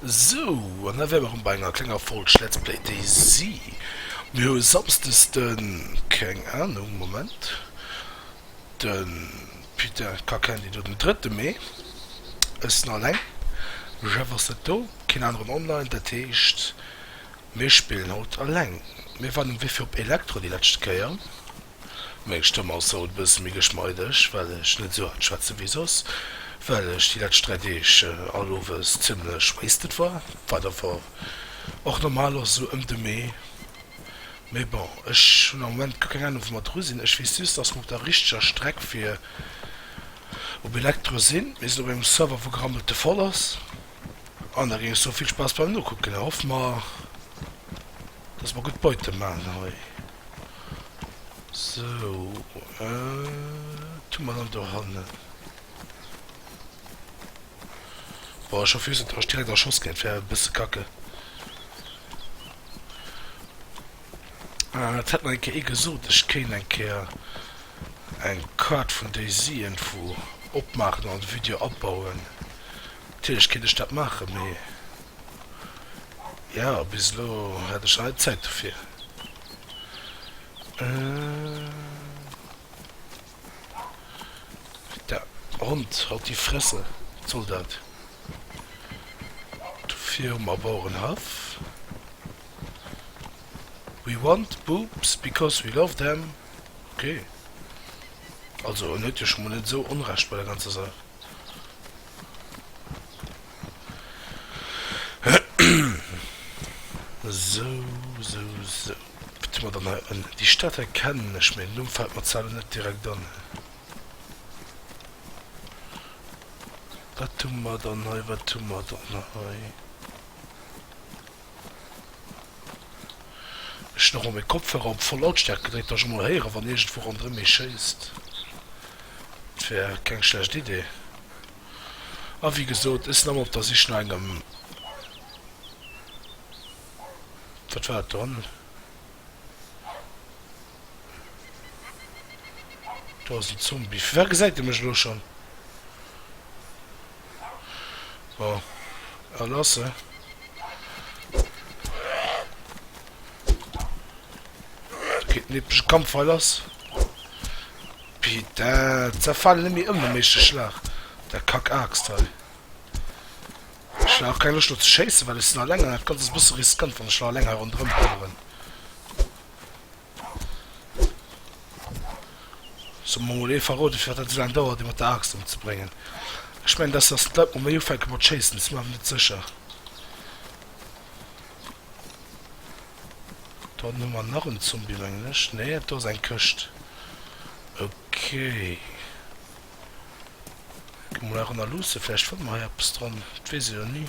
Sou, an da wäre mer erëm bei enger klenger Folg Let's Play DayZ. Mir hu Samsdes de, keng Ahnung, Moment, de, putain, ka keen déi do, den drëtte Mee, ech sinn alleng, de Jeff ass net do, keen aneren online, dat heescht, mir spillen haut alleng. Mir waren ewéi fir op Elektro déi leschte Kéier. Meng Stëmm ass haut e bësse méi geschmeideg, well ech net esou haart schwätze wéi soss, well ech déi lescht 3 Deeg all Owes zimmlech wasted war, wat awer och normal ass esou ëm de Mee. Mee bon, ech hunn am Moment guer keng Ahnung wou mer dru sinn. Ech weess just, dass mer op der richteger Streck fir op Elektro sinn. Mir sinn op engem Server wou gerammelte voll ass an da géing ech soe vill Spaass beim nokucken a hoffe mer, Dass mer gutt Beute maachen hei. Sou, wat hu mer dann dohannen? Boah, ech hoff just, et ass direkt erschoss ginn. Et wär e bësse kacke. Et hätt mer eng Kéier ee gesot, ech kéint eng Kéier eng Kaart vun Daisy Info opmaachen an de Video abauen. Natierlech kéint ech dat maachen, mee. Jo, bis elo hat ech nach net Zäit dofir. Der Hond haut die Fresse, wat soll dat? Dofir hu mer Bauerenhaff. We want boobs because we love them. Ok, also en huet jo scho mol net esou Onrecht bei der ganzer Saach. Sou, sou, sou. Wat hu mer dann hei? En, déi Stad hei kennen ech, mee den Numm fält mer zwar elo net direkt an. Wat hu mer dann hei, wat hu mer dann hei? Ech hunn erëm meng Kopfhörer op voll Lautstärkt gedréckt, datt ech emol héieren, wann iergendwou ronderëm ee schéisst. Et wär keng schlecht Idee. A wéi gesot, ech sinn erëm op der Sich no engem, wat war dat do hannen? Do ass en Zombie. Firwat gesäit e mech elo schonn? Bon, a lasse. Geet en epeschen Kampf hei lass. Putain, zerfalen ëm mir ëm dem éischte Schlag. Der Kack-Aaxt hei. Ech hun awer keng Loscht do ze schéisse well ech sinn alleng an dat ganzt ass e bësse riskant wann ech elo alleng hei ronderëm laufen. Soe mer mol ee verroden firwat dat esou laang dauert ee mat der Axt ëmzebréngen. Ech mengen dass dass d'Leit mol méi ufänke mat schéissen, et si mir awer net sécher. Do hannen hu mer nach en Zombie mengen ech, nee dat do ass eng Këscht. Okay. Gi mer mol hei eranner luusse, vläicht fanne mer hei eppes dran, dat weess ee jo ni.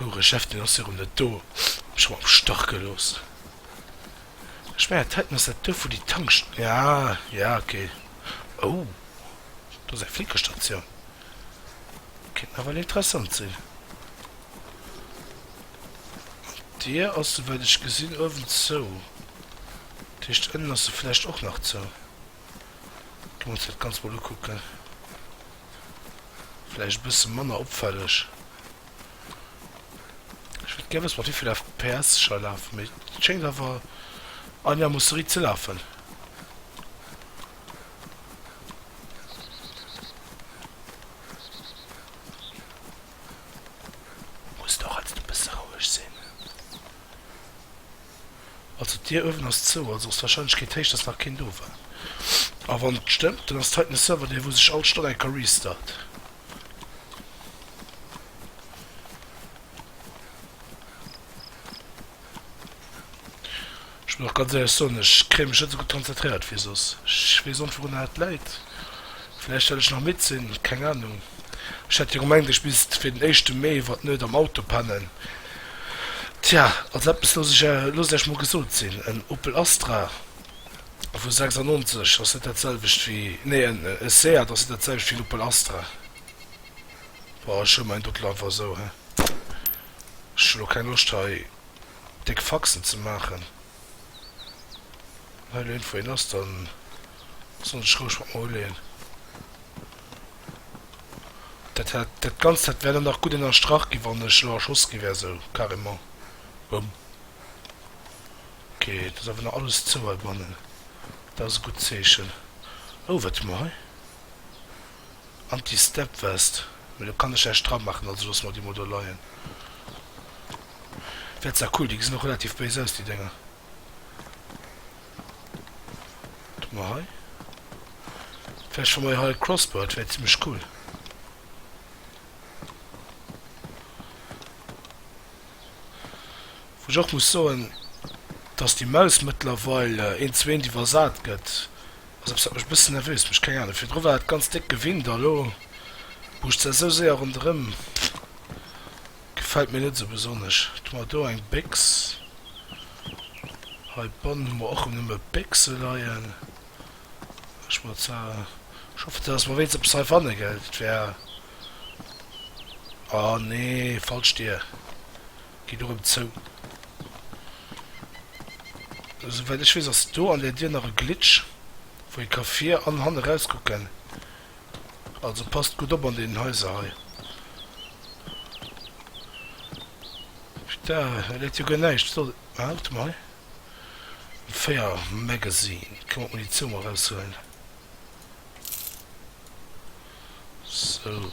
Houre Chef, deen ass virum net do, huet mech rëm am Stach gelooss. Ech mengen, dat heiten ass dat Duerf, wou déi Tanks. Ja, ja, ok. Ou, do ass eng flinke Statioun. Kéint nawell interessant sinn. An d'Dier ass, souwäit ech gesinn, uewen zou. Dat heescht, ënnen ass se vläicht och nach zou. Gi mer ons dat Ganzt mol ukucken. Vläicht e bësse manner opfälleg. Ech wëllt gär wësse mat wéivill FPS ech hei lafen, mee et schéngt awer einigermoosse-riit ze lafen. Muss et och alt e bësse roueg sinn. Also d'Dier uewen ass zou, also ass d'Warscheinlechkeet héich dass nach keen do war. A wann et stëmmt, dann ass d'Zeit um Server dee wou sech all Stonn eng ka restart. Ech muss och ganz éierlech soen, ech kréien mech net esou gutt konzentréiert wéi soss. Ech weess och net wourunner dat läit. Vläicht well ech nach midd sinn, keng Ahnung. Ech hat jo gemengt ech misst fir den éischte Mee iwwer d'Nuet am Auto pennen. Tja, also eppes loosst Iech mol gesot sinn, en Opel Astra vu 96 ass net dat selwecht wéi, nee en Seat ass net dat selwecht wéi en Opel Astra. Bon, ech huele mäin Doudel einfach esou, ech hu lo keng Loscht hei déck Faxen ze maachen. Hei leet wéi lass, dann soll ech roueg mat mer uleeën. Dat hat, dat Ganzt hat wär dann nach gutt ënnerstrach gi wann ech lo erschoss gi wär, sou carrément. Boum. Ok, et ass awer nach alles zou heibannen, dat ass e gutt Zeechen. Oh, wat hu mer hei? Anti step vest, mee do kann ech näischt dra machen, also loosse mer déi mol do leien. Wär zwar cool, déi gesinn och relativ béis aus déi Dénger. Do mol hei, vläicht fu mer jo hei e Crossbird, wär zimmlech cool. Wou ech och muss soen, dass déi Maus mëttlerweil eens wéint iwwersat gëtt. Ass eppes wat mech e bëssen nervös mécht, keng Ahnung. Virdru war et ganz déck gewinnt a lo buuscht se esou séier ronderëm. Gefält mir net esou besonnesch. Do hu mer do eng Béchs. Hei bannen hu mer och rëm nëmme Béchse leien. Ech mer zwar, ech hoffen, dass mer wéinst eppes heifanne gell. Dat wär, ah nee, falsch Dier. Geet erëm zou. Esou wäit ech weess ass et do an där Dier nach e Glitch wou ee ka vir an hanne rauskucken. Also passt gutt op an deenen Haiser hei. Putain hei läit jo guer näischt. Wat ass et? Ah warte mol hei. Fire Magazine. Ech kann mer d'Munitioun mol raushuelen. Sou.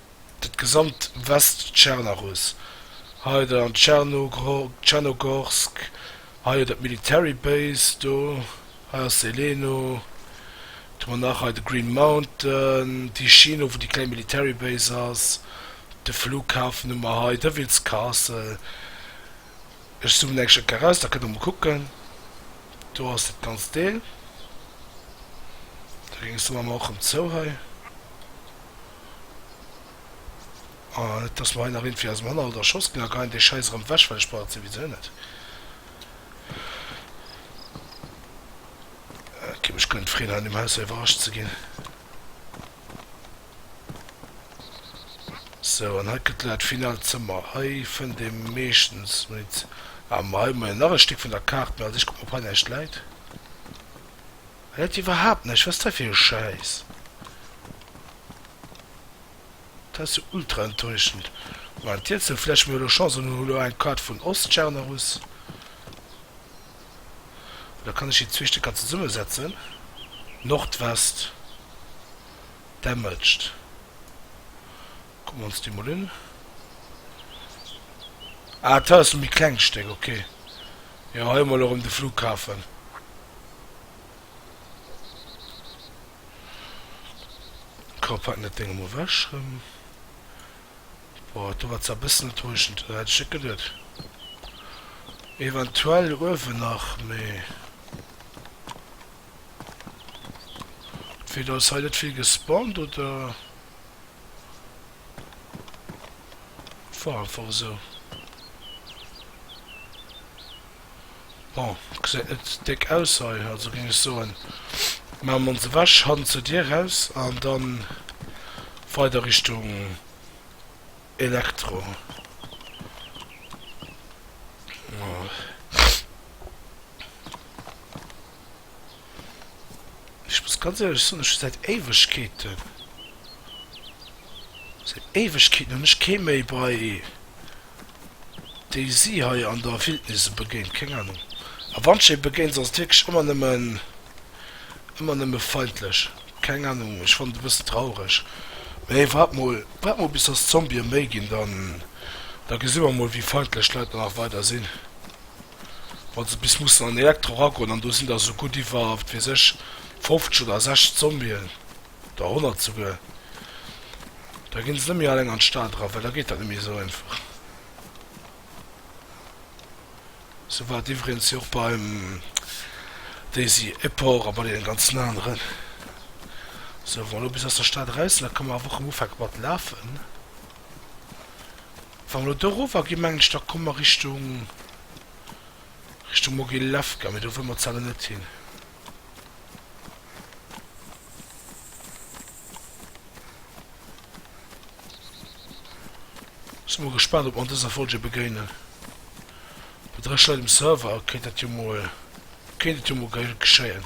dat gesamt West-Tschernaruss, hei da an Tschernogorsk, hei jo dat Military Base do, hei ass Zeleno, du man nach hei de Green Mountain, déi Schinn owuer déi kleng Military Base ass, de Flughafen hu mer hei, Devils Castle, ech zoomen eng Stéck eraus, da kënnt der mol kucken, do ass dat ganzt Deel, da géings de mer mol och rëm zou hei. Et ass mer hei nach iergendwéi aus dem Hannerhalt erschoss ginn. A geien dee Schäiss erëm wech, well ech brauch et souwisou net. Et géif mech guer net freeën, hei an deem Haus hei iwwerrascht ze ginn. Sou, an hei kënnt elo dat finaalt Zëmmer. Hei fënnt ee meeschtens Munition. Ah, ma hei hu mer jo nach e Stéck vun der Kaart. Mee also, ech kucken, ob hei näischt läit. Hellt iwwerhaapt näischt, wat ass dat fir e Schäiss? Dat ass jo ultra enttäuschend. Moment, Dirndl, vläicht hu mir elo Chance an hunn elo eng Kaart vun Ostschernarus. Oder kann ech déi zwee Stécker zesummesetzen? Nordwest, damaged. Kucke mir ons déi mol un. Ah, dat ass e méi klengt Stéck, ok. Jo hei hu mer elo rem de Flughafen. Kopp hat net dengem ewech rem. Boah do war zwar bessen enttäuschend, dat hätt ech net geduet. Eventuell uewen nach mee. Entweder ass hei net vill gespawnt oder et war einfach esou. Bon, gesäit net déck aus hei, also géing ech soen, maache mer ons ewech, hannen zur Dier raus an dann weider Richtung. Elektro Ech muss ganz éierlech soen, ech hu säit Éiwegkeeten, säit Éiwegkeeten hunn ech kee méi bei Daisy hei an der Wildnis begéint. Keng Anung. A wann ech ee begéint, ass et wierklech ëmmer nëmmen, ëmmer nëmme feindlech. Keng Ahnung, ech fannt et e bëssen traureg, mee waart mol, waart mol bis dass d'Zombië méi ginn, dann, da gesi mer mol wéi feindlech d'Leit dann nach weider sinn, wa se bis mussen an den Elektro eragoen, an do sinn der esou gutt iwwer, wat weess ech, 50 oder 60 Zombien, oder 100 souguer, da ginn se net méi alleng an d'Stad era, well da geet dat net méi esou einfach. Sou war et iwwregens jo och beim Daisy Epor a bei deenen ganzen aneren. Sou, wa mer elo bis aus der Stad eraus sinn, da ka mer awer och erëm ufanke mat lafen. Wa mer elo do erover ginn, mengen ech, da komme mer Richtung, Richtung Mogilewka, mee do wëlle mer zejoert net hin. Sin mol gespannt op mer an dëser Folge begéinen. Bei 3 Leit um Server kéint dat jo mol kéint et jo mol ge geschéien.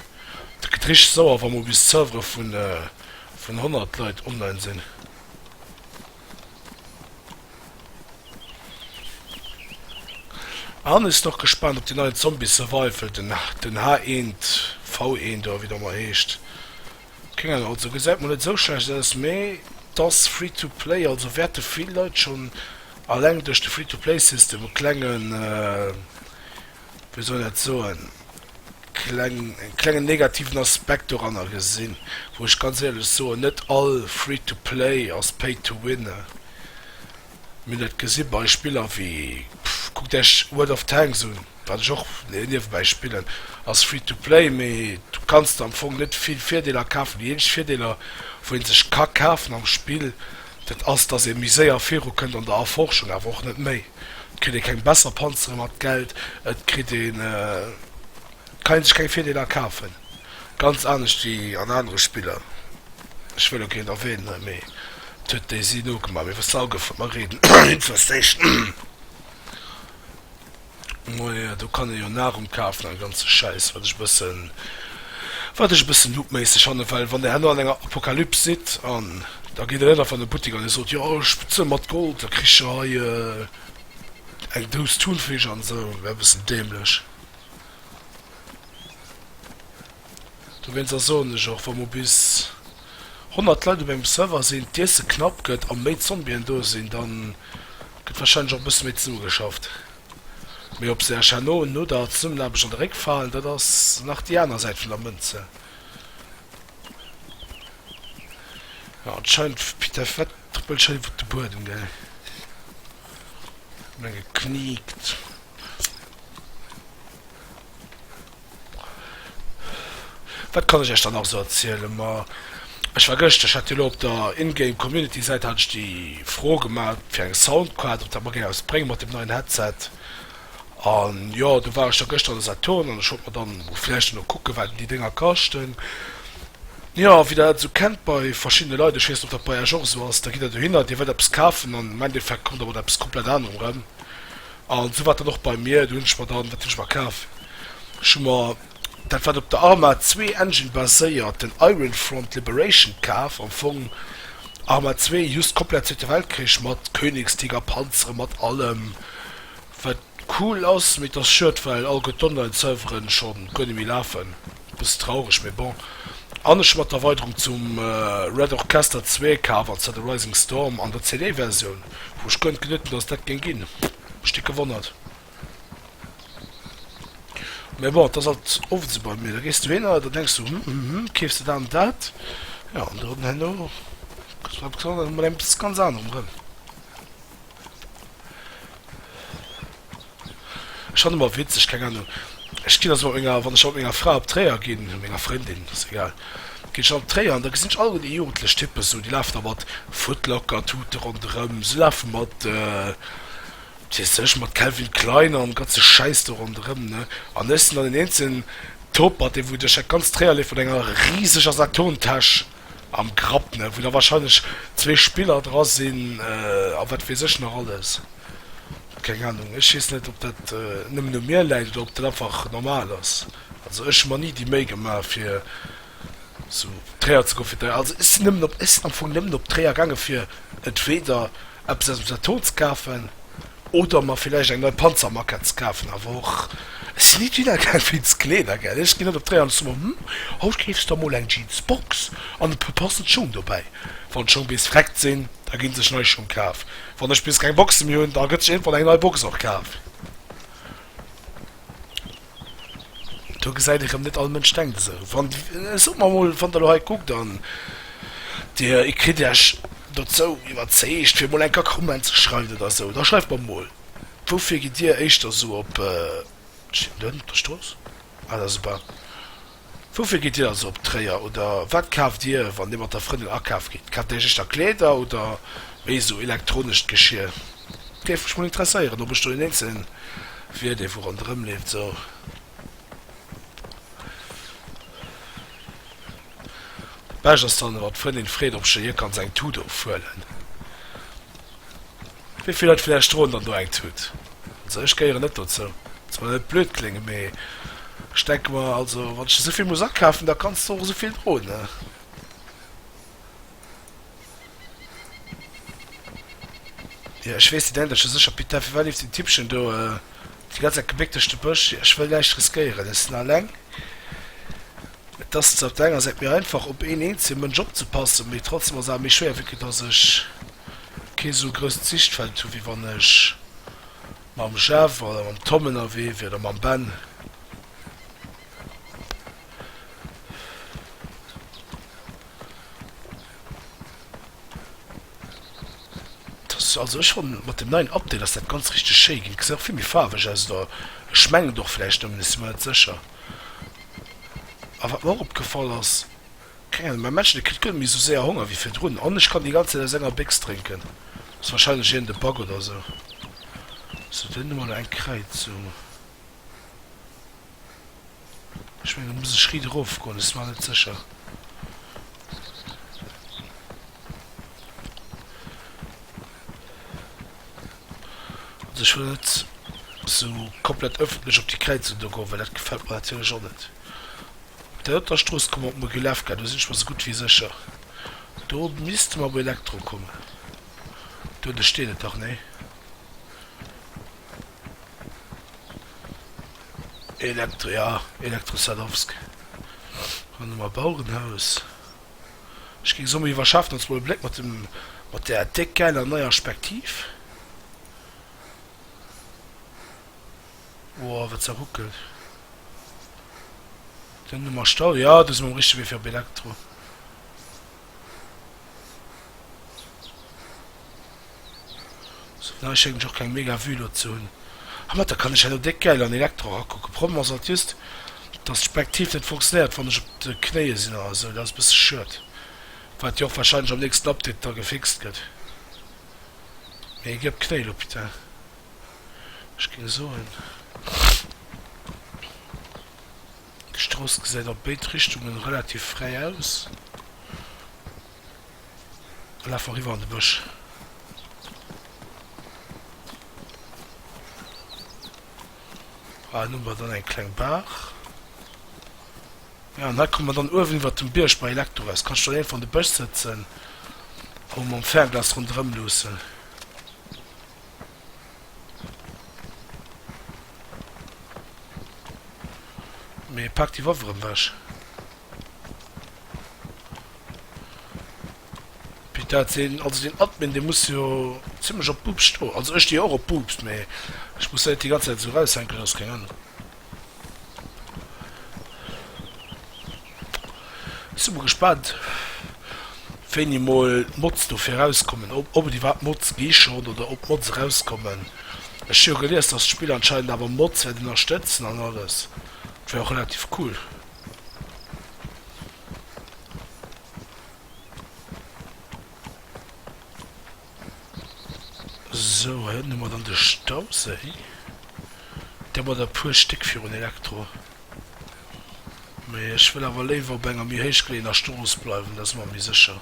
Dat gëtt richteg sauer wa mol bis d'Servere vun vun 100 Leit online sinn. An ech sinn och gespannt op déi neien Zombie Survival, den den H1 V1 oder wéi et ëmmer heescht. Keng Ahnung, also gesäit mol net esou schlecht aus, mee et ass free to play, also wäerte vill Leit schonn alleng duerch de Free to play System e klengen wéi soll dat soen, kleng, e klengen negativen Aspekt doranner gesinn, wou ech ganz éierlech soen, net all Free to Play ass Pay to Win. Mir hunn dat gesi bei Spiller wéi, kuckt Iech World of Tanks un, wat ech och niewebäi spillen, ass Free to Play, mee du kanns der am Fong net vill Virdeeler kafen. Déi eenzeg Virdeeler, wou ee sech ka kafen am Spill, Dat ass, datt ee méi séier viru kënnt an der Erforschung, awer och net méi. Et kritt ee keng besser Panzere mat Geld, et kritt ee kann sech keng Virdeeler kafen, ganz anescht wéi an anere Spiller. Ech wëll elo keen erwähnen, mee et huet Daisy nogemaach, mee wësst Aer goufen, mer reeden Infestation. Moie, do kann ee jo Nahrung kafen an ganze Schäiss, wat ech e bëssen, wat ech e bëssen noob-méisseg fannen, well wann Der herno an enger Apokalyps sidd an da geet Der net einfach an de Buttek an Dir sot, jo ech bezuele mat Gold, da kricht Der hei eng Dous Thunfisch an esou, wär e bëssen dämlech. Dowéinst ass, soen ech och, wa mer bis 100 Leit op engem Server sinn, d'Iesse knapp gëtt a méi Zombien do sinn, da gëtt warscheinlech och e bësse méi zesummegeschafft. Mee ob se ech herno no der Zesummenaarbecht an de Réck falen, dat ass nach déi aner Säit vun der Mënze. Jo, et scheint Piteff wat trëppelt scho iwwert de Buedem, gell? Menge kniekt. Wat kann ech iech dann nach esou erzielen? Ma ech war gëschter, ech hat jo elo op der In-Game Community Säit hat ech déi Fro gemat fir eng Soundcard, ob dat mer géing eppes brénge mat dem neien Headset. An jo, do war ech da gëschter an de Saturn an ech wollt mer dann vläicht elo kucken, wat déi Dénger kaschten. Jo, wéi der dat esou kennt bei verschiddene Leit, ech weess net, ob dat bei iech och esou ass, da gitt der dohinner, dir wëllt eppes kafen an am Endeffekt kommt der mat eppes komplett anerem erëm. A sou war et dann och bei mir. Do hunn ech mer dann, wat hunn ech mer kaf? Ech hu mer dat, wat op der Arma zwee Engine baséiert, den Iron Front Liberation kaf. Am Fong Arma zwee, just komplett Zweete Weltkrich, mat Königstiger Panzeren, mat allem, wat cool ass. Mee et ass schued, well all gutt Online-Serveren scho guer net méi lafen. Bësse traureg, mee bon. An ech hu mat der Erweiderung zum Red Orchester zwee kaf, an zwar de Rising Storm an der CD-Versioun, wou ech könnt geduet hunn, dass et dat géing ginn. Mech dick gewonnert. Mee bon, et ass alt oft esou bei mir, da gees du hin an da denks du, Hm, hm, hm, keefs de dat an dat, jo, an dann herno kriss de eppes an, an dann mat eppes ganz anerem erëm. Ech fannen emmer witzeg, keng Ahnung, ech gin also mat menger, wann ech mat menger Fra op Tréier gin, oder menger Frëndin, ass egal, gin ech op Tréier an da gesin ech alleguer déi jugendlech Typen, sou déi lafen da mat Footlocker Tuten ronderem, si lafen mat, wat weess ech, mat Calvin Klein an ganze Schäiss do ronderem, ne, an ech sin dann deen eenzegen Topert, dee wou duerch dat ganz Tréier leeft mat enger riseger Saturn Täsch. Am Grapp, ne, wou da wahrscheinlech zwee Spiller dra sinn a wat weess ech nach alles. Keng Ahnung, ech weess net, ob dat nëmmen u mir läit oder ob dat einfach normal ass. Also ech hu mer ni déi Méi gemaach, fir sou Träer ze goen fir d'Eis. Also ech sinn nëmmen op, ech sinn am Fong nëmmen op Tréier gaangen, fir entweder eppes aus dem Saturn ze kafen Oder mer villäicht eng nei Panzermaquette ze kafen, awer och et sinn nit wieder keng fitz Kleeder, gell? Ech ginn net op d'Réi an soen, Hm, haut keefs de der mol eng Jeansbox an e puer passend Schong dobäi. Wann d'Schong bis vreckt sinn, da gi sech nei Schong kaf. Wann ech bis keng Boxe méi hunn, da gëtt sech iergendwann eng nei Box och kaf. Do gesäit ee rëm, net all Mënsch denkt esou. Wann, sot mer emol, wann Der elo hei kuckt an Dir kritt Iech dozou iwwerzeegt, fir emol eng Kéier Comment ze schreiwen oder esou, da schreift mer emol, Woufir gitt Dir éischter esou op, ech sinn Dënn, op der Strooss? Ah, dat ass super. Woufir gitt Dir also op Tréier? Oder wat kaaft Dir, wann Dir mat der Frëndin akaaf gitt? Kaaft Dir Iech éischter Kleeder oder méi esou elektronescht Geschir? Géif mech mol interesséieren, ob ech do deen eenzelen wier, dee wou ronderëm leeft esou. Bescht ass dann, wa d'Frëndin freet, ob ech hir kann seng Tut ofhuelen. Wéi vill Leit vläicht droen dann do eng Tut. Also ech gehéieren net dozou. Soll jo net blöd kléngen, mee ech denke mer, also wann ech esou vill muss akafen, da kanns de och esou vill droen, ne? Jo, ech weess, déi denkt ech jo sécher, Pita, firwat leeft den Tippchen do déi ganz Zäit gebéckt duerch de Bësch? Jo, ech wëll näischt riskéieren, ech sinn alleng. Et ass zwar op der enger Säit méi einfach op een eenzele Mënsch opzepassen, mee trotzdem ass awer méi schwéier wéi que dass ech kee sou grousst Sichtfeld hu wéi wann ech mam Jeff oder mam Tom ënnerwee wier oder mam Ben. Also ech fannen mat dem neien Update ass dat ganz richteg schéi ginn, gesäit och vill méi faarweg aus oder ech mengen et och vläicht nëmmen, ech si mer net sécher. A wat mer och opgefall ass, keng Ahnung, mäin Männchen, dee kritt guer net méi esou séier Honger wéi virdrun an ech kann déi ganz Zäit aus enger Béchs drénken. Ass wahrscheinlech iergend e Bug oder esou. Sou, do hunn ech mol eng Kräizung. Ech mengen, do muss ech riit erofgoen, ass mar net sécher. Also ech wëll net sou komplett ëffentlech op déi Kräizung do goen, well dat gefält mer natierlech och net. Op där doter Strooss komme mer op Mogilewka, do sinn ech mer sou gutt wéi sécher. Do misste mer op Elektro kommen. Duerno steet et dach, nee? Elektro, jo, Elektro Sadowsk. Ronderëm a Bauerenhaus. Ech ging somme iwwerschaften als mol e Bléck mat der déck gäiler neier Spektiv. Woah wat se ruckelt. Den du mer stau. Jo du si mer um richtege Wee fir op Elektro. Sou nei schéngt ech och keng mega Vue lo ze hun. Ah mat der kann ech elo déck gäil an Elektro erakucken. Problem ass alt just dass d'Spektiv net funktionéiert wann ech op de Knéie sin oder sou. Dat ass bësse schued. Wat jo och wahrscheinlech am nächsten Update da gefixt gëtt. Mee gëb d'Knéi lo putain. Ech ging soen d'Strooss gesäit op béid Richtungen relativ fräi aus. Ech laf eriwwer an de Bësch. Hei hunn mer dann eng kleng Baach. Ja, an hei komme mer dann uewen iwwer dem Bierg bei Elektro aus. Kanns du dann einfach an de Bësch sëtzen a mam Fernglas ronderëm luussen. Mee paak déi Waffe erëm ewech. Pi dat sinn, also den Admin dee muss jo zimlech op Boops stoen, also ech sti jo och op Boops mee ech muss dat net déi ganz Zäit esou raushänken, dat ass keng Ahnung. Sinn mol gespaant wéini mol Mods dofir erauskommen, ob ob et iwwerhaapt Mods gi schonn oder ob Mods erauskommen. Ech hu jo gelies dass d'Spill anscheinend awer Mods wäert ënnerstëtzen an alles, dat wär och relativ cool. So hien hu mer dann de Stauséi, dee mat e puer Stéck virun Elektro, mee ech wëll awer léiwer op enger méi héichgeleeëner Strooss bleiwen, dat ass mer méi sécher,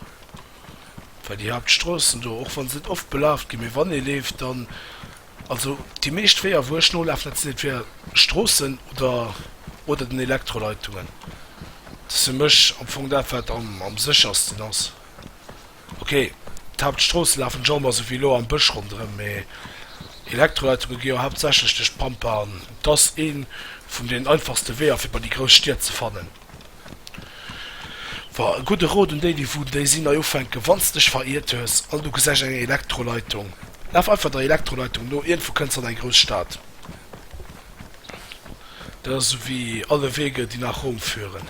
well déi Haaptstroossen do, och wann se net oft belaaft ginn, mee wann ee leeft, dann, Also déi meescht Weeër wou ech nolafen, dat sinn entweder Stroossen oder oder den Elektroleitungen. Dat ass fir mech am Fong dat wat am am séchersten ass. Ok, d'Haaptstroosse lafen ech och emmer souwéi elo am Bësch ronderëm, mee Elektroleitunge gi jo haaptsächlech duerch d'Pampa an et ass ee vun den einfachste Weeër fir bei déi grouss Stied ze fannen. Wa e gudde Rot un déi déi vun déi sinn nei ufänken, Wann s dech veriert hues an du gesäich eng Elektroleitung, laf einfach der Elektroleitung no, iergendwou kënns an eng grouss Stad. Dat ass esou wéi Alle Wege, die nach Rom führen.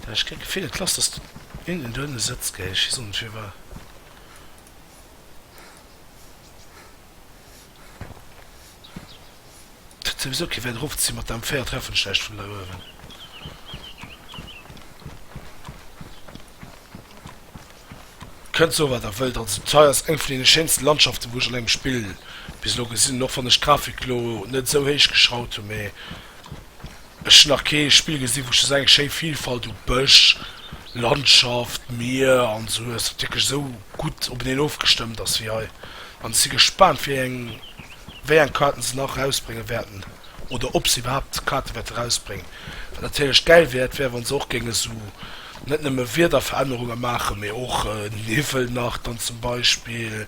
Dach ech kritt d'Gefill et lass dass du innen dohinne sëtz gehéich. Hie soll net fir war. Kritt souwisou kee wäit erofzéien mat der M4 treffen schlecht vun dei uewen. Kënnt soe wat der wëllt, an zum Teil ass et eng vun deene schéinsten Landschaften wou ech an engem Spill bis elo gesinn hunn, och wann ech d'Grafik elo net esou héich geschraut hunn, mee. Ech hunn nach kee Spill gesinn, wou ech esou eng schéi Vilfalt u Bësch, Landschaft, Mier an esou hues, wat wierklech esou gutt openeen ofgestëmmt ass wéi hei. An ech si gespaant, wéi eng wéi eng Kaarten se nach erausbrénge wäerten oder ob se iwwerhaapt Kaarte wäerte erausbréngen. Wat natierlech gäil wäert, wär wa se och géinge esou net nëmme Wiederverännerunge maachen, mee och Niwwel nach dann zum Beispill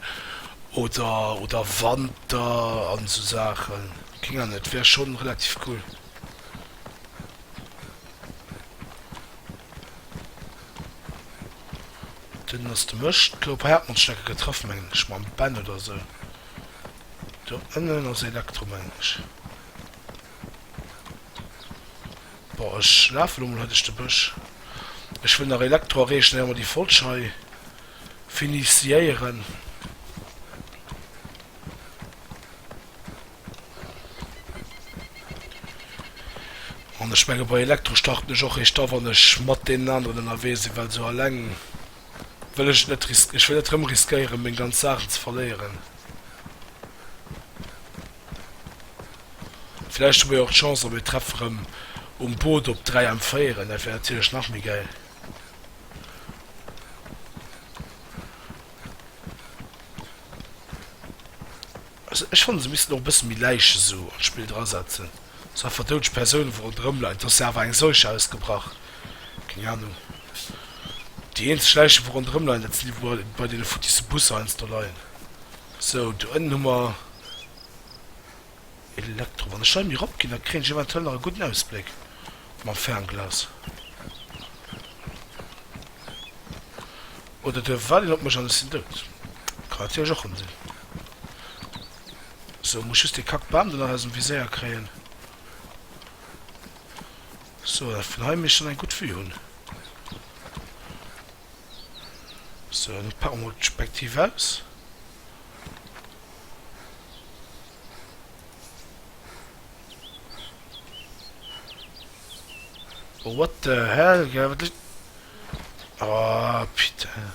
oder oder Wanter an esou Saachen. Keng Ahnung, et wär schon relativ cool. Den ass de Mëscht. Gro paar Erdmondstärke getraff mengen ech mam Ben oder esou. Do ënnen ass Elektro mengen ech. Boah, ech lafe lo mol hei duerch de Bësch. Ech wëll nach Elektro erreechen éier mer déi Folg hei finisiéieren. An ech menge bei Elektro starten ech och eréischt da wann ech mat deenen aneren ënnerwee sinn, well esou alleng wëll ech et net risk, ech wëll net rëm riskéieren meng ganz Saachen ze verléieren. Vläicht hu mir jo och d'Chance a mir treffe rëm um Boot op 3 M 4, dat wär natierlech nach méi gäil. Also ech fannen se missten och e bëssen méi Läichen esou an d'Spill dra setzen, sou einfach doudeg Persounen wou ronderëm leien, do ass jo awer eng Seuche ausgebrach, keng Ahnung, déi eenzeg Läichen wou ronderëm leien dat sinn déi wou bei deene futtisse Busser heiansdo do leien. Sou do ënnen hu mer Elektro, wann ech hei méi erop ginn da kréien ech eventuell nach e gudden Ausbléck mam Fernglas oder duerf ech waarden op mech an ech sinn dout, kann natierlech och rëm sinn. Sou, muss just dee kackt Bandel aus dem Viséier kréien. Sou, dat vun hei misst schon eng gutt Vue hunn. Sou, an elo pake mer mol d'Spektiv aus. Oh what the hell gell, wat lit. Oh putain.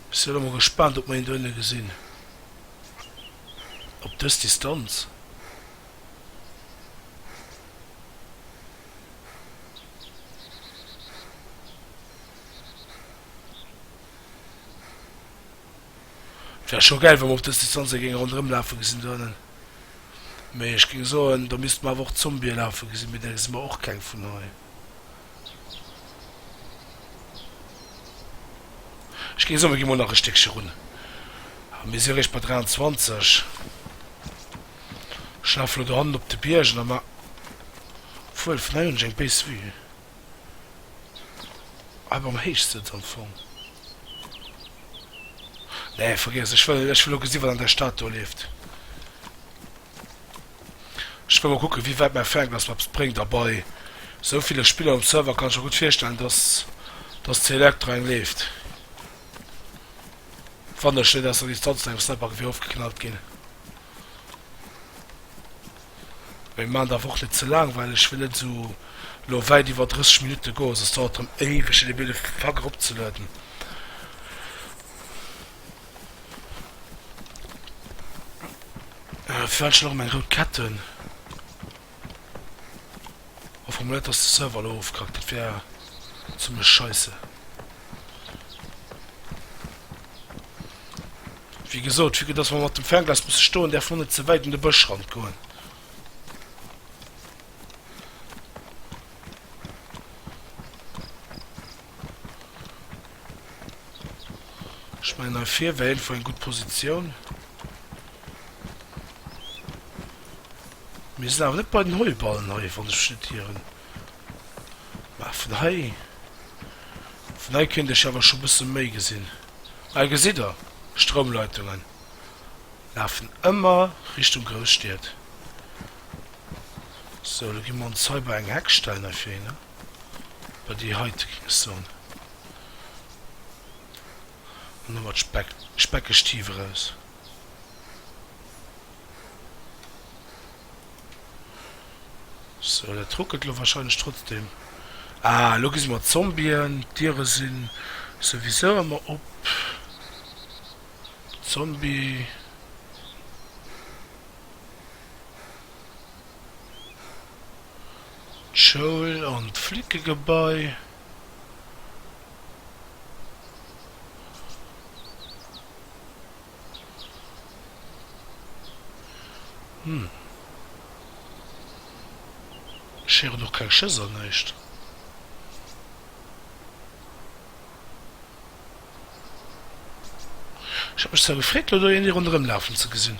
Ech sinn emol gespaant op mer hien do ënne gesinn op dës Distanz. Et wär scho gäil wa mer op dës Distanz hie géinge ronderëm lafe gesinn do ennen, mee ech géing soen da misste mer awer och d'Zombië lafe gesinn, mee där gesi mer och keng vun hei. Ech ginn soen, mir ginn mol nach e Stéckche run a mir si réischt bei 23. Ech lafe lo dohannen op de Biergen a mar, obwuel vun hei hunn ech eng béis Vue, hei beim Héichsëtz am Fong. Nee, vergiess, ech wëll lo gesi wat an där Stad do leeft. Ech wëll mol kucken wéi wäit mäi Fernglas mer eppes bréngt a bei sou ville Spiller um Server kann ech mer gutt virstellen dass dass d'Selectra eng leeft. Wann ech net aus der Distanz no engem Sniper Geweer ofgeknallt ginn. Mee maan daerf och net ze laang well ech wëll net esou lo wäit iwwer 30 Minutten goen soss dauert rem éiweg fir de Bild e Fack erop ze lueden. Äh, firwat ech lo meng rout Kett hunn? O formuléiert dass de Server lo ofkackt, dat wär zimlech scheisse. Wéi gesot, vu dass mer mat dem Fernglas musse stoen, däerf mer net ze wäit un de Bëschrand goen. Ech mellen hei vir wär einfach eng gutt Positioun. Mir sinn awer net bei den Heuballen hei wann ech mech net ieren. Mä vun hei, vun hei kéint ech awer scho bësse méi gesinn. Hei gesitt der d'Stroumleitungen lafen ëmmer Richtung Grousstied. Sou elo gi mer ons hei bei eng Heck stellen hei fir hinne. Bei déi heite ging ech soen, an domat d'Speck, speckeg Tief eraus. Sou, dat ruckelt elo wahrscheinlech trotzdem. Ah, elo gesi mer d'Zombien. D'Diere si souwisou ëmmer op. Zombie. d'Schoul an d'Flickegebai, ech héieren och keng Schëss an näischt. Ech hat mech zwar gefreet elo do een hei ronderëmlafen ze gesinn.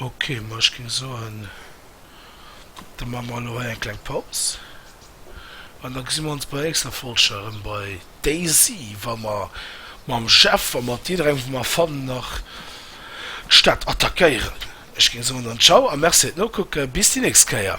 Ok, ma ech géing soen, da maache mer elo hei eng kleng Paus an da gesi mer ons bei der nächster Folg scho erëm bei Daisy, wa mer mam Jeff a mat jidderengem, wou mer fannen, nach d'Stad attackéieren. Ech géing soen dann Ciao a Merci fir d'Nokucken. Bis déi nächst Kéier!